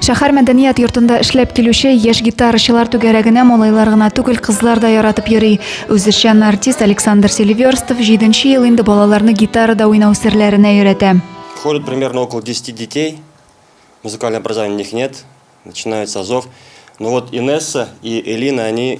Шәһәр мәдәният йортында эшләп килүче яшь гитарачылар түгәрәгенә малайлар гына түгел, кызлар да яратып йөри. Үзешчән артист Александр Селиверстов җиденче ел инде балаларны гитарада уйнау серләренә өйрәтә. Ходит примерно около десяти детей, музыкального образования у них нет, начинают с азов. Но вот Инесса и Элина, они.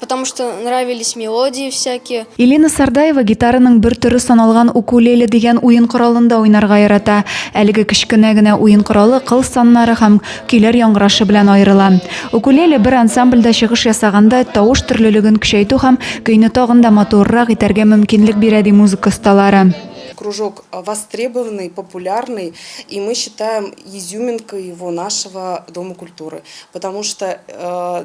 Потому что нравились мелодии всякие. Елена Сардаева гитараның бер төре саналган укулеле дигән уен коралында уйнарга ярата. Әлеге кечкенә генә уен коралы кыл саннары һәм көйләр яңгырашы белән аерыла. Укулеле бер ансамбльдә чыгыш ясаганда тавыш төрлелеген көчәйтү һәм көйне тагын да матуррак итәргә мөмкинлек бирә, ди музыка осталары. Кружок востребованный, популярный, и мы считаем изюминкой его нашего Дома культуры, потому что э,